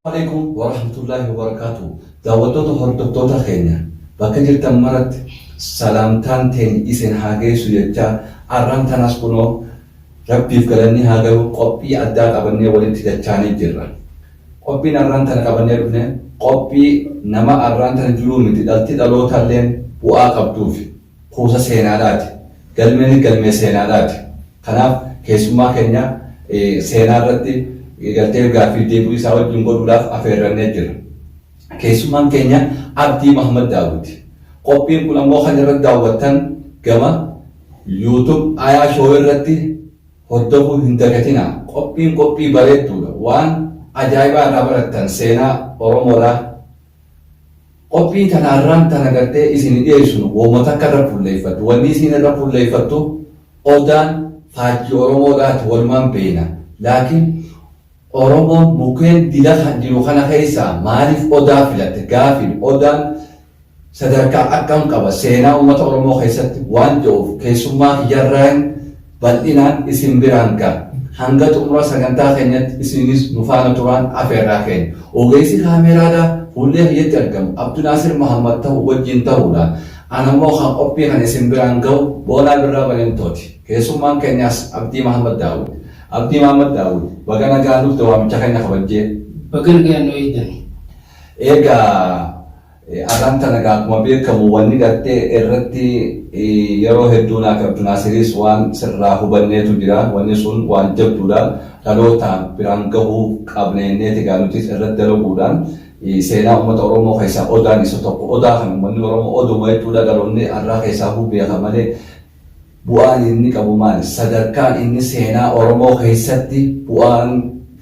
Waalaikum warahmatullahi wabarakatuh. Daawwattoota hordoftoota keenya bakka jirtan maratti salaamtaan teenya isin haa geessu jechaa arraan tanas kunoo rabbiif galanni haa galu qophii addaa qabannee walitti dachaanii jirra. Qophiin arraan tana qabannee dhufne qophii nama arraan tana jiruu miti dhalti dhalootalleen bu'aa qabduufi kuusa seenaadhaati. Galmeenis galmee seenaadhaati. Kanaaf keessummaa keenya seenaa irratti galtee gaaffiif deebi'uu isaa wajjin godhuudhaaf afeerrannee jirra. Keessummaan keenya Abdii Mahammad Daawwiti. Qophiin kun ammoo kan irratti daawwattan gama YouTube Ayaa Show irratti. hordofuu hin dagatinaa qophiin qophii bareedduudha waan ajaa'ibaa irraa barattan seenaa oromoo irraa qophii tana irraan tana gartee isin dhiyeessinu wooma takka irra fulleeffattu wanni isin irra fulleeffattu odaan faajjii oromoo irraati walumaan beeyna laakiin oromoon mukeen dila kan jiru kana keessaa maaliif odaa filatte gaafiin odaan Sadarkaa akkam qaba seenaa uummata Oromoo keessatti waan jedhuuf keessummaa kiyyarraan bal'inaan isin biraan ga'a. Hanga xumura sagantaa keenyatti isinis nu faana turaan afeerraa keenya. Ogeessi kaameeraadhaa fuullee kiyyatti argamu Abdunaasir Mahammad ta'u wajjin ta'uudhaan anammoo kan qophii kan isin biraan ga'u Boonaa Birraa Balentooti. Keessummaan keenyaas Abdii Mahammad Daawud. Abdii Mahammad Daawud baga nagaan dhufte waamicha keenya kabajjee. Baga nagaan nu eegdan. Eega ar'aan tana egaa akkuma beekamu wanni gartee irratti yeroo hedduu naa fi Abdunaasiriis waan sirraa hubanneetu jira. Wanni sun waan jabduudha. Dhaloota biraan gahuu qabna jenneeti egaa nutis irratti dalaguudhaan seenaa ummata Oromoo keessaa Odaan isa tokko. Odaa kana ummanni Oromoo Oduma jechuudha dhaloonni ar'aa keessaahuu beeka malee Bu'aan inni qabu maali? Sadarkaan inni seenaa Oromoo keessatti bu'aan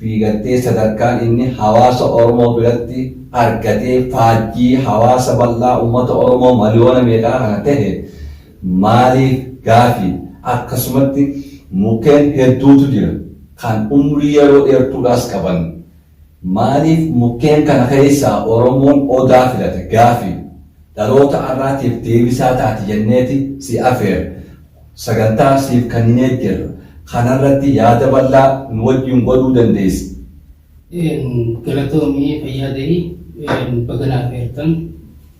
fi gartee sadarkaan inni hawaasa Oromoo biratti argatee faajjii hawaasa bal'aa ummata Oromoo maliyoona meeqaa kana tahe maaliif gaafi. Akkasumatti mukkeen hedduutu jira kan umrii yeroo dheertuudhaas qaban. Maaliif mukkeen kana keessaa Oromoon Odaa filate gaafi dhaloota arraatiif deebisaa taati jenneeti si afeerre. Sagantaa siif kanninee jirra. Kanarratti yaada bal'aa nu wajjin godhuu dandeessa. Galatoomi fayyaa ta'i. Baga na afeertan.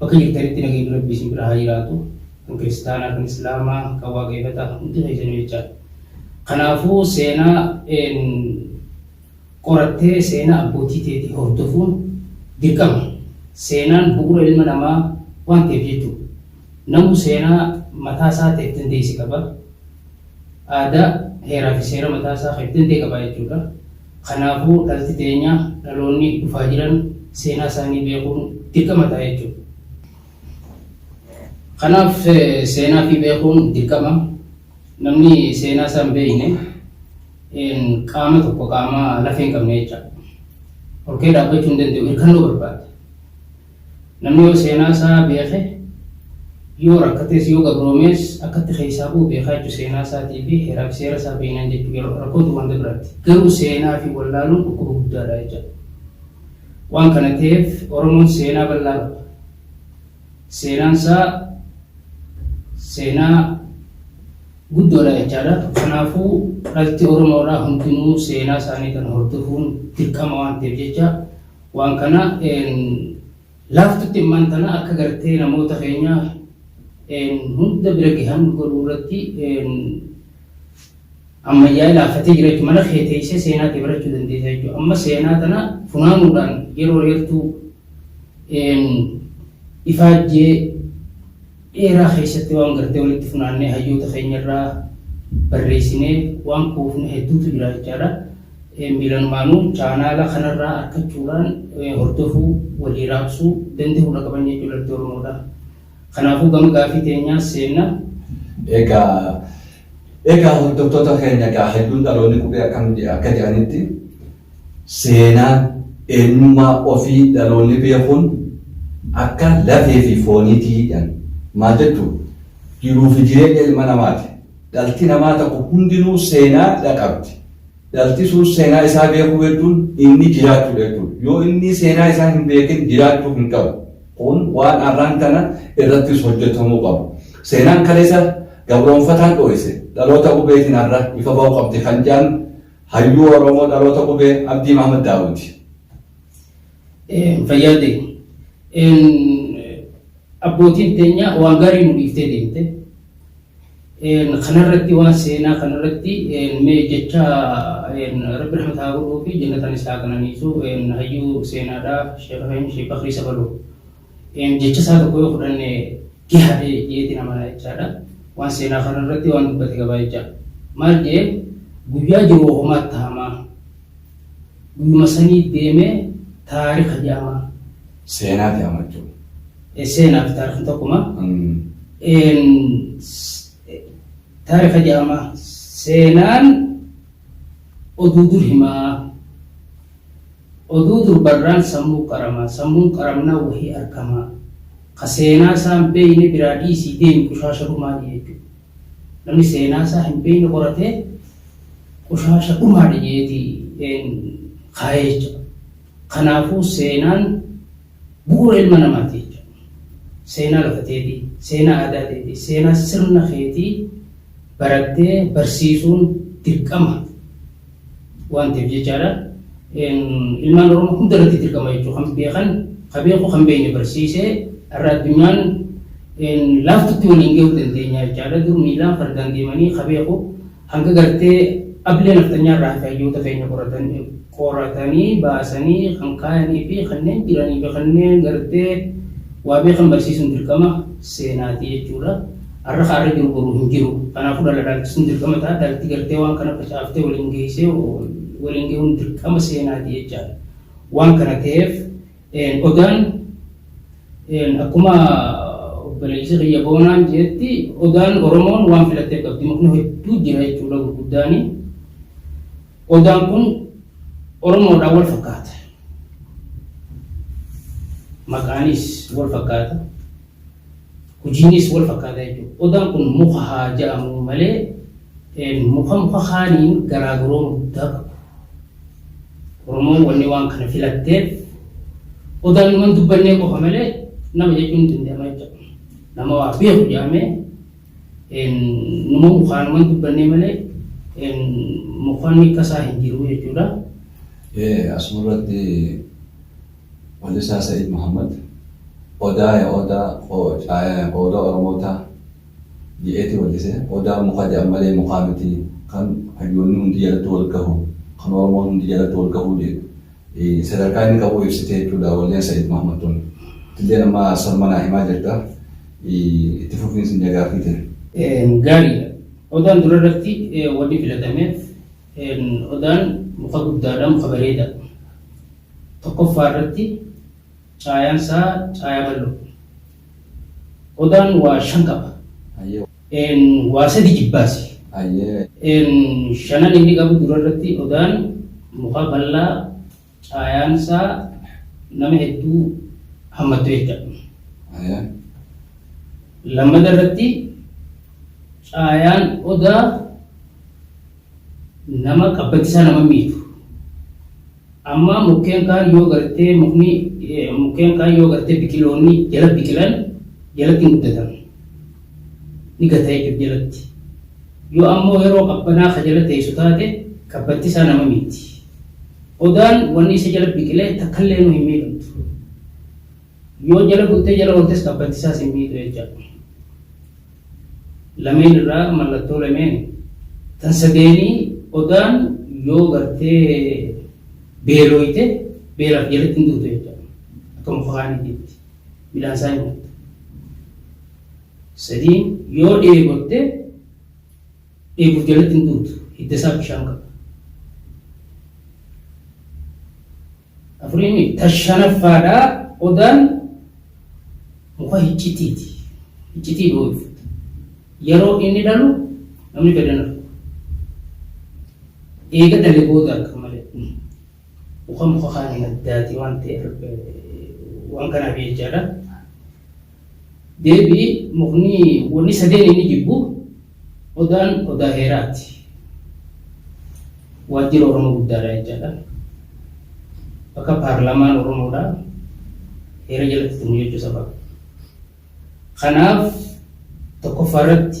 Bakka jirtanitti nageenyi rabbii isin bira haa jiraatu kan kiristaanaa kan islaamaa kan waaqeefataa hundi keessanuu jechaadha. Kanaafuu seenaa qorattee seenaa abbootii teetii hordofuun dirqama. Seenaan bu'uura ilma namaa waan ta'eef jechuudha. Namuu seenaa mataa isaa ta'e itti hundeesse qaba. Aadaa, heeraa fi seera mataa isaa kan itti hundee qaba jechuudha. Kanaafuu dhalti teenya, dhaloonni dhufaa jiran seenaa isaanii beekuun dirqama ta'a jechuudha. Kanaaf seenaa fi beekuun dirqama. Namni seenaa isaa hin beekne qaama tokko qaama lafee hin qabne jechaadha. Ol ka'ee dhaabbachuu hin danda'u, hirkannoo barbaada. Namni yoo seenaa isaa beeke, yoo rakkatees yoo gabroomees akkatti keessaa ba'u beekaa jechuun seenaa isaatii fi heeraa fi seera isaa beeknaan jechuu yeroo rakkoon tun wanta biraatti. Garuu seenaa fi wallaaluun dhukkuba guddaadha jecha. Waan kana ta'eef Oromoon seenaa bal'aa qaba. Seenaan isaa seenaa guddoodha jechaadha. Kanaafuu dhalti Oromoodhaa hundinuu seenaa isaanii kana hordofuun dirqama waan ta'eef jecha Waan kana laaftutti immaan tana akka gartee namoota keenya hunda bira gahan godhuu irratti ammayyaa'ee laaffatee jira jechuudha. Mana kee teessee seenaa kee barachuu dandeessa jechuudha. Amma seenaa tana funaanuudhaan yeroo dheertuu ifaajjee dheeraa keessatti waan gartee walitti funaannee hayyoota keenya irraa barreessinee waan kuufne hedduutu jira jechaadha. Miilanumaanuu chaanaala kanarraa arkachuudhaan hordofuu walii raabsuu danda'uu dha qaban jechuu dhalti Oromoodha. Kanaafuu gama gaafii teenyaas seenna. Egaa egaa hordoftoota keenya egaa hayyuun dhaloonni qubee akkam akka jedhanitti Seenaa, eenyummaa ofii dhaloonni beekuun akka lafee fi fooniiti jedhan. Maal jettu? Jiruu fi jireenya ilma namaati. Dhalti namaa tokko hundinuu seenaa dha qabdi. Dhalti sun seenaa isaa beekuu jechuun inni jiraachuu dha jechuudha. Yoo inni seenaa isaa hin beekin jiraachuu hin qabu. Kun waan arraan tana irrattis hojjetamuu qabu. Seenaan kaleessa gabroomfataan dhooyse dhaloota qubeetiin har'a ifa ba'uu qabdi kan jedhan Hayyuu Oromoo Dhaloota Qubee Abdii Mahamad Daawuti. Fayyaa ta'e. Abbootiin teenya waan gaarii nu dhiiftee deemte. Kanarratti waan seenaa kanarratti mee jecha rabbi rahmata haa godhuu fi jannataan isaa qananiisu hayyuu seenaadhaa sheekh Sheekh Bakrii Sabaloo. Jecha isaa tokko yoo fudhanne gaha ta'e jedheetiin amana jechaadha. Waan seenaa kana irratti waan dubbate qabaa jecha. Maal jedhee guyyaa jiru homaa tahamaa. Guyyuma sanii deemee taarika jedhamaa. Seenaati amma jechuudha. Seenaa fi taarikni tokkuma. Taarika jedhamaa. Seenaan oduu dur himaa. Oduu durbarraan sammuu qaramaa, sammuun qaramnaan wahii arkamaa, ka seenaasaa hin beeyne biraa dhiisii deemi qushaasha dhumaadha jechuudha. Namni seenaasaa hin beeyne qoratee qushaasha dhumaadha jeeti kaaya jechuudha. Kanaafuu seenaan bu'uura ilma namaati jechuudha. Seenaa lafa teetii, seenaa aadaa teetii, seenaa sirna keetii barattee barsiisuun dirqama. waan ta'eef jechaadha. Ilmaan Oromoo hunda irratti dirqama jechuudha. Kan beekan, kan beeku, kan beekne barsiisee har'a addunyaan laaftutti waliin gahuu dandeenya jechaadha. Dur miilaan fardaan deemanii kan beeku hanga gartee ablee naftanyaa irraa hafe hayyoota keenya qoratanii baasanii kan kaayanii fi kanneen jiranii fi kanneen gartee waa beekan barsiisuun dirqama seenaati jechuudha. Har'a kaarri gurguru hin jiru. Kanaafuu dhala dhaalchisuun dirqama ta'a. Dhalti gartee waan kana facaaftee waliin geessee waliin ga'uun dirqama seenaati jechaadha. Waan kana ta'eef odaan akkuma obboleessi kiyya boonaan jedhetti odaan Oromoon waan filattee qabdi. Mukni hedduu jira jechuudha gurguddaani. Odaan kun Oromoodhaan wal fakkaata. Maqaanis wal fakkaata. Hojiinis wal fakkaataa jechuudha. Odaan kun muka haa ja'amuu malee muka muka kaaniin garaagarooma guddaa qabu. Oromoon wanni waan kana filatteef odaan numan dubbannee qofa malee nama jechuun hin danda'ama jechuudha. Nama waa beeku jedhamee numa mukaan numan dubbannee malee mukanni kasaa hin jiru jechuudha. Asuma irratti Walisaa Sa'id Muhammad Odaa ya Odaa Odaa Oromoo taa je'eeti wallise. Odaa muka je'an malee mukaa miti. Kan hayyoonni hundi jalatti wal gahu, kan Oromoon hundi jalatti wal gahu sadarkaa inni qabu ibsite jechuudha walleen Sa'id Muhammad tun. Atilleen amma sarma naa himaa jirta. Itti fufiinsi nja gaaffii tee. Gaariidha. Odaan durarratti wanni filatameef Odaan muka guddaadha, muka bareeda. Tokkoffaa irratti caayaan isaa caayaa bal'oo. Odaan waa shan qaba. Waa sadi jibbaasi. Shanan inni qabu dura irratti odaan muka bal'aa Caayaan isaa nama hedduu hammattu jechuudha. Ayaa. Lammata irratti caayaan odaa nama qabbachisaa nama miidhu. Amma mukkeen kaan yoo gartee mukni eh, mukkeen kaan yoo gartee biqiloonni jala biqilan jalatti hin guddatan. Ni gata jechuudha jalatti. Yoo ammoo yeroo qabbanaa ka jala teessu taate qabbachisaa nama miidhi. Odaan wanni isa jala biqile takkalleenu hin miidhamtu. Yoo jala bultee jala ooltes qabbanti isaas hin miidhu jecha. Lameen irraa mallattoo lameen tan sadeenii odaan yoo gartee beelooyte beelaaf jalatti hin duutu jecha. Akka muka kaaniitiitti midhaan isaa hin nyaattu. Sadiin yoo dheebotte Dheebuuf jalatti hin guutu. Hidda isaa bishaan qaba. Afurii miti. Ta shanaffaadha. Odaan muka hiccitiiti. Hiccitii dhooyfata. Yeroo inni dhalu namni fedhan argu. Eega dhale booda arga malee. Muka muka kaaniin addaati waan ta'eef waan kanaaf jechaadha. Deebii, Mukni wanni sadeen inni jibbu Odaan Odaa Heeraati. Waajjira Oromoo guddaadha jechaadha. Bakka paarlaamaan Oromoodha. Heera jalatti tumu jechuu saba. Kanaaf tokkoffaa irratti.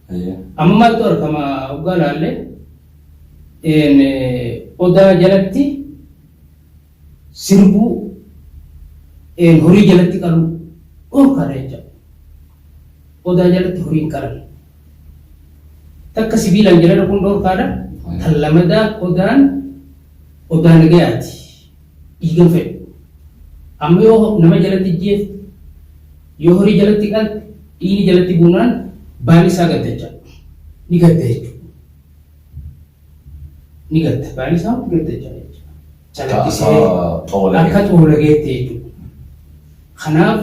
Amma maaltu argama hoggaa laallee odaa jalatti sirbuu horii jalatti qaluu dhorkaadha jechuudha. Odaa jalatti horii hin qalan. Takka sibiilaan jala dhaquun dhorkaadha. Kan lamadaa odaan odaa nagayaati. dhiigan fedhu. Amma yoo nama jalatti ijjeefte, yoo horii jalatti qalte, dhiigni jalatti buunaan baali isaa gadda jecha. Ni gadda jechuudha. Ni gadda. Baali isaa hundi gadda jecha jecha. Calaqqisee akka xoolageetti jechuudha. Kanaaf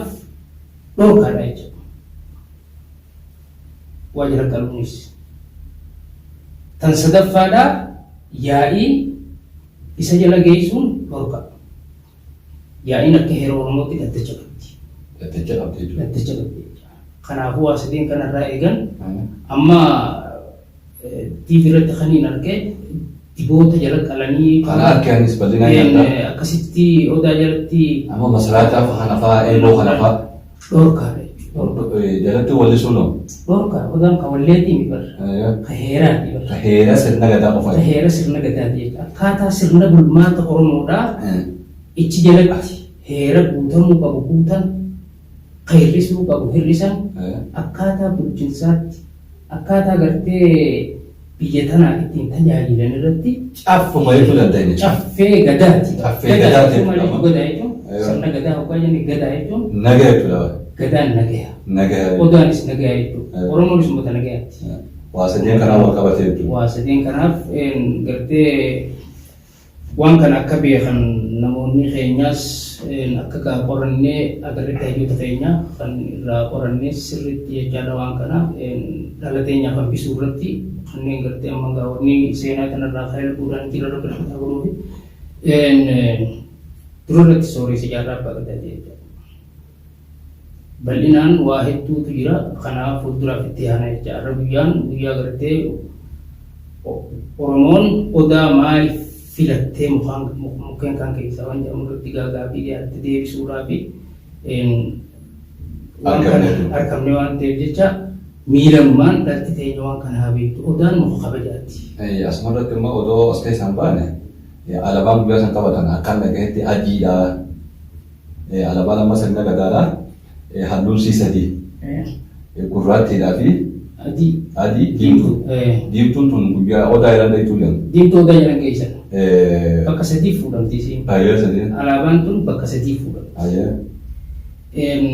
dhorkaadha jechuudha. Waa jala qaluunis. Tan sadaffaadhaa yaa'ii Isa jala geessuun dhorka. Yaa'iin akka heera Oromootti dhaddacha qabdi. Dhaddacha qabdi jechuudha. Dhaddacha qabdi jechuudha. Kanaafuu waa sadeen kanarraa eegan amma TV irratti kan hin arge diboota jala qalanii Kana harki anis bal'inaan nyaata. akkasitti odaa jalatti Amma masaraataa fa'aa kana fa'aa eeboo kana fa'aa. dhorkaadha jechuudha. Jalatti wallisuun hoo? Dhorkaa hoggaan ka walleetii mi barra. Ka heeraati barra. Ka heera sirna gadaa qofa. Ka heera sirna gadaati jechuudha. Akkaataa sirna bulmaata Oromoodhaa ichi jalatti heera guutamuu qabu guutan, ka hir'isuu qabu hir'isan, akkaataa bulchinsaatti, akkaataa gartee biyya tanaa ittiin tajaajilan irratti Caffuma jechuu dandeenya. caffee gadaati. Caffee Gadaa gadaati jechuun maal jechuudha. jechuudha? Gadaa jechuun Yoo. sirna gadaa hoggaa jennu gadaa jechuun Nagaa jechuudha. gadaan nagaya. Nagaa. Odaanis nagaya jechuudha. Yoo. Oromoonis uummata nagayaati. Waa sadeen kanaa wal qabate jechuudha. Waa sadeen kanaaf een, gartee Waan kana akka beekan namoonni keenyaas akka gaa qorannee agarretti hayyoota keenya kan irraa qorannee sirriitti jechaadha waan kana dhala teenyaaf hambisuu irratti kanneen gartee amma gaa wanni seenaa kanarraa kan ilbuudhaan jira rabbi rahmataa godhuufi dura irratti sooressa jaarraa abbaa gadaa ta'e jechaadha. Bal'inaan waa hedduutu jira kana fuulduraaf itti yaana jecha har'a guyyaan guyyaa gartee Oromoon odaa maaliif filattee mukaan mukkeen kaan keessaa waan jedhamu irratti gaagaafii dhiyaatte deebisuudhaa fi waan kana argamne waan ta'eef jecha miilammaan dhalti teenya waan kana haa beektu odaan muka kabajaatti. Asuma irratti immoo odoo as keessaan baane alabaan guyyaa san taphatan akkaan dhagahetti adiidha Alaabaan amma sirna Gadaadha. Halluun sii sadii. Gurraattiidhaa fi Adii. adii diimtuu. Diimtuu. Diimtuun tun guyyaa odaa irra dheetuu jedhamu. Diimtuu odaa jedhan keessa. Bakka sadii fuudhamti isiin. Baay'ee sadii. Alaabaan tun bakka sadii fuudhamti. Baay'ee. Em,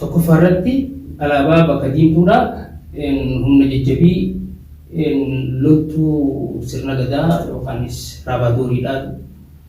Tokkoffaa irratti alaabaa bakka diimtuudha. Em, Humna jajjabii em, loltuu sirna gadaa yookaanis raabaadooriidha.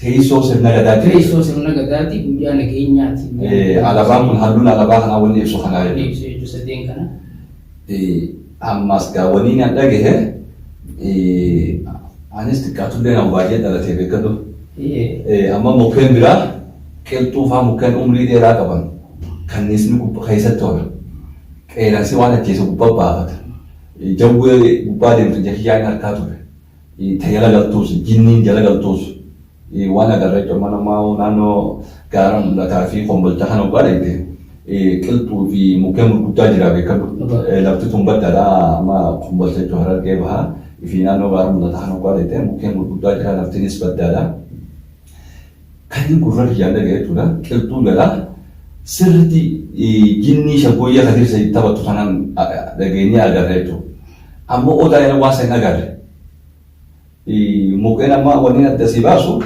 teessoo sirna gadaa jira. Teessoo sirna gadaati guyyaa nageenyaati. Eh, Alabaan kun halluun alabaa kanaa wanni ibsu kanaa Kan jechuudha. ibsu jechuudha sadeen kana. Eh, Ammas gaa wanni na dhagahe eh, anis xiqqaatullee nama baay'ee dhalatee beekadhu. Eh, Eh, Amma mukkeen biraa qilxuu fa'aa mukkeen umrii dheeraa qaban kanniisni gubbaa keessatti oola. Qeeransi waan ajjeese gubbaa baafata. Eh, Jawwee gubbaa deemtu jakiyyaan harkaa ture. ta jala galtuus, jinniin jala galtuus waan agarre jechuudha. Amma namaa naannoo gaara mul'ataa fi kombolcha kana ogaa dhayte qilxuu fi mukkeen gurguddaa jira beekadhu. Lafti tun baddaadha amma kombolcha jechuudha harargee bahaa fi naannoo gaara mul'ataa kana ogaa dhayte mukkeen gurguddaa jira laftinis baddaadha. Kanin gurra kiyyaan dhagaye jechuudha. Qilxuun lala sirriitti jinnii shaggooyyee Kadir Said taphattu kanaan dhageenyee agarre jechuudha. Amma odaa yeroo waan san agarre. Mukkeen amma wanni adda si baasu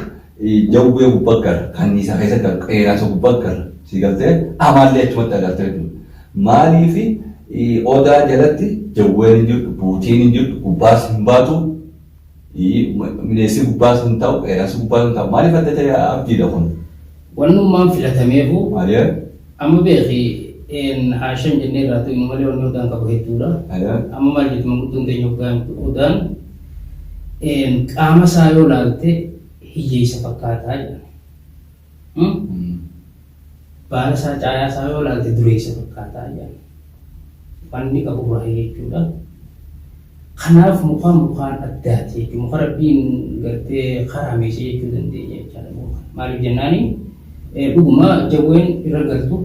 jawwee gubbaa gara kanniisa keessa gara qeeraansa gubbaa gara si galtee amaallee achumatti agartee jechuudha. Maaliif odaa jalatti jawween hin jirtu, buutiin hin jirtu, gubbaas hin baatu. Mineessi gubbaa sun ta'u qeeransi gubbaa sun ta'u maaliif adda ta'e abdiidha kun? Wannummaan filatameefu Alee amma beeki een haashan jennee irraa tuynu malee wanni odaan qabu hedduudha. alee Amma maal jettu manguddoon teenya hoggaan odaan een qaama isaa yoo laalte hiyyeessa fakkaataa jedhan. Baala isaa caayaa isaa yoo ilaalte dureessa fakkaataa jedhan. Wanni qabu baay'ee jechuudha. Kanaaf mukaan mukaan addaati jechuudha. Muka rabbiin gartee karaameessee jechuu dandeenya jechaadha muka. Maaliif jennaani dhuguma jawween irra galtu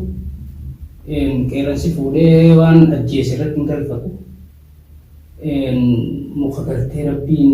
qeerransi fuudhee waan ajjeese irratti hin galfatu. Muka gartee rabbiin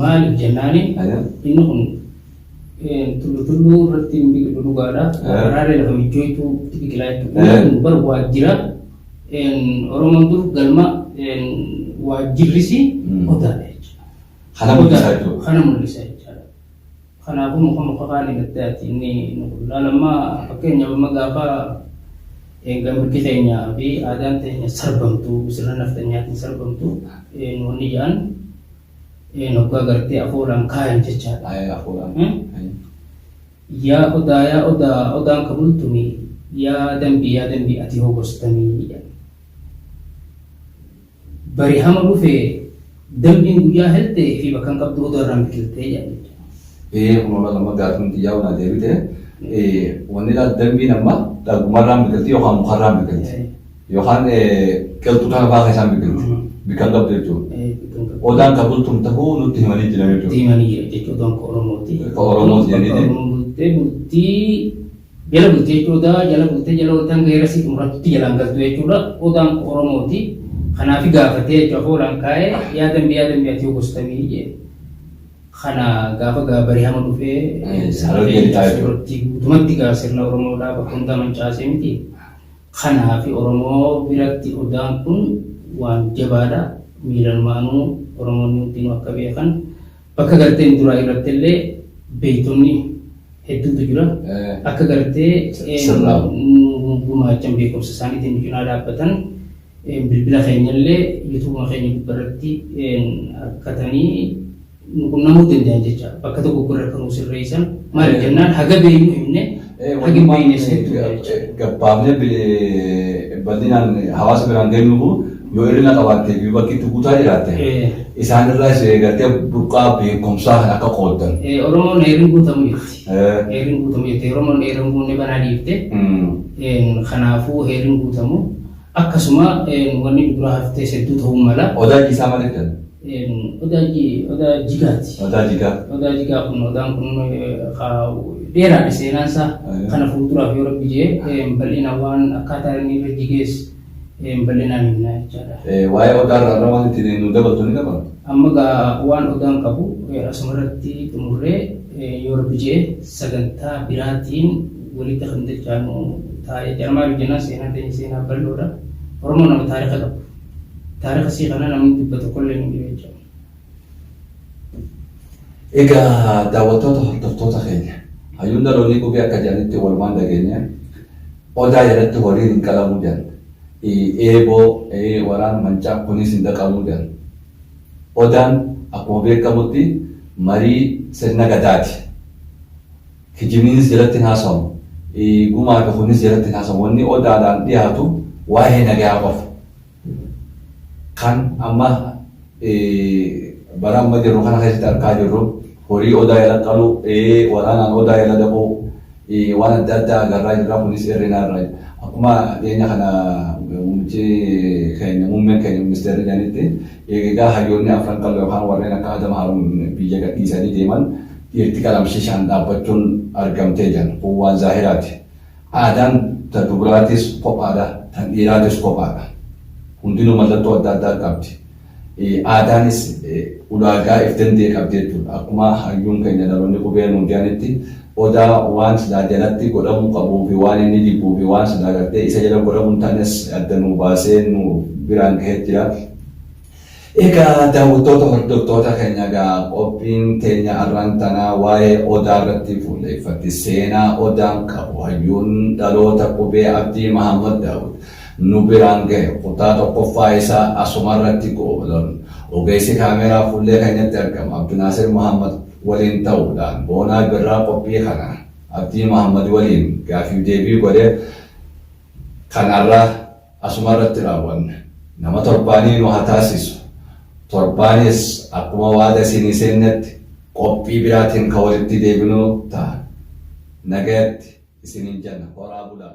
Maaliif jennaani inni kun tullu tulluu irratti hin biqilu dhugaadha. Waraaree lafa michooytuu itti biqilaa jechuudha. Inni kun bar waajjira Oromoon dur galma waajjirrisi odaadha jechuudha. Kana mul'isa jechuudha. Kana mul'isa jechuudha. Kanaafuu muka muka kaanii gattee ati inni nu qullaa lamma fakkeenyaaf amma gaafa eega mirgi keenya fi aadaan teenya sarbamtu sirna nafxanyaatiin sarbamtu nu wanni ja'an noggaa gartee afoolaan kaayan jechaadha. Ayaa afoolaan. Yaa odaa yaa odaa odaan ka bultumi yaa dambii yaa dambii ati hoo gostami jedhan. Bari hama dhufe dambiin guyyaa helte fi bakkan qabdu odoo irraan biqilte jedhan jechuudha. Ee kunoo laga amma gaaffiin xiyyaa kun adeebite wanni laal dambiin amma lagumarraan biqilti yookaan mukarraan biqilti yookaan qilxu kana fa'aa keessaan biqilti bikkan qabdu jechuudha. Odaan ka bultum tahuu nutti himanii jiran jechuudha. Diimanii jira jechuudha odaan ka Oromooti. Ka Oromooti jedhanii. Oromoo bultee bultii Jala bulte jechuun odaa jala bulte jala oltan geera si xumurattutti jalaan galtu jechuudha. Odaan koo Oromooti. Kanaafi gaafatee jechuudha afoolaan kaa'ee yaa dambi yaa dambi ati gostamii jee. Kana gaafa gaa barihama dhufee sarargeen taasisurratti guutumatti gaa sirna Oromoodhaa bakka hundaa mancaasee miti. Kanaafi Oromoo biratti odaan kun waan jabaadha. Miilanumaanuu Oromoonni hundinuu akka beekan Bakka garteen duraa irrattillee beektonni hedduutu jira. Akka gartee nu gumaachan beekumsa isaaniitiin nu cinaa dhaabbatan bilbila keenyallee yuutuubuma keenya gubbarratti argatanii nu qunnamuu danda'an jecha bakka tokko gurra kan nu sirreessan maaliif jennaan haga beeknu himne Hagin beeyneesseetti jecha. gabbaabnee bil- bal'inaan hawaasa biraan geenyu kun yoo hir'ina qabaattee fi bakki itti guutaa jiraatte Eh. isaan irraa isa eegattee burqaa beekumsaa kan akka qooddan. Eh, Oromoon heerin guutamu jirti. Eh. Heerin guutamu jirti. Oromoon heerin guunne banaa dhiifte. Mm. Eh, Kanaafuu heerin guutamu Akkasuma wanni dubra haftees hedduu ta'uu mala. Odaa ijji isaa maal jedhan? Odaa ijji odaa jigaati. Odaa jigaa. Odaa jigaa kun odaan kun dheeraadha seenaan isaa. Kana fuulduraaf yoo rabbi jee bal'ina waan akkaataa inni irra jigees bal'inaan himna jechaadha. Waa'ee odaa irraa waan ittiin nu dabaltu ni qaba? Amma gaa waan odaan qabu asuma irratti xumurree yoo rabbi jee sagantaa biraatiin walitti kan dachaanu taa'e jaarmaa yoo jennaan seenaan keenya seenaa bal'oodha. Oromoon nama taarika qabu. Taarika isii kana namni dubba tokkollee hin jiru jechuudha. Egaa daawwattoota hordoftoota keenya hayyuun dhaloonni qubee akka jedhanitti walumaan dhageenya odaa jalatti horiin hin qalamuu jedhan eeboo waraan mancaa kunis hin dhaqamuu jedhan odaan akkuma beekamutti marii sirna gadaati Kijibnis jalatti hin haasawamu. Gumaa fi kunis jalatti hin haasawamu. Wanni Odaadhaan dhiyaatu waa'ee nagayaa qofa. Kan amma bara amma jirru kana keessatti argaa jirru horii Odaa jala qaluu, waraanaan Odaa jala dhaquu, waan adda addaa agarraa jirra. Kunis irrina irraa. Akkuma dhiyeenya kana muummichi keenya muummeen keenya ministeerri jedhanitti egaa hayyoonni afran qal'oo yookaan warreen akka Adam Haaruun biyya gadhiisanii deeman Dhiirti qalamshishaan dhaabbachuun argamtee jan kun waan zaahiraati. Aadaan ta dubraatis kophaadha, tan dhiiraatis kophaadha. Hundinuu mallattoo adda addaa qabdi. Aadaanis ulaagaa if danda'e qabdi jechuudha. Akkuma hayyuun keenya dhaloonni qubee nuu jedhanitti odaa waan silaa jalatti godhamuu qabuu fi waan inni jibbuu fi waan silaa gartee isa jala godhamuu hin taanes adda nuu baasee nu biraan gahee jira. Egaa daawwattoota hordoftoota keenya egaa qophiin teenya arraan tanaa waa'ee odaa irratti fuulleeffatti. Seenaa odaan qabu hayyuun dhaloota qubee abdii Mahaammad Daawud nu biraan gahe kutaa tokkoffaa isaa asuma irratti goolabna. Ogeessi kaameeraa fuullee keenyatti argamu Abdunaasir Mahaammad waliin ta'uudhaan Boonaa Birraa qophii kana Abdii Mahaammad waliin gaaffiif deebii godhe kan arraa Asuma irratti raawwanna. Nama torbaanii nu haa taasisu. Torbaanis akkuma waada isinii seennetti qophii biraatiin kan walitti deebinu ta'a. Nagayatti isiniin jenna. Horaa bulaa!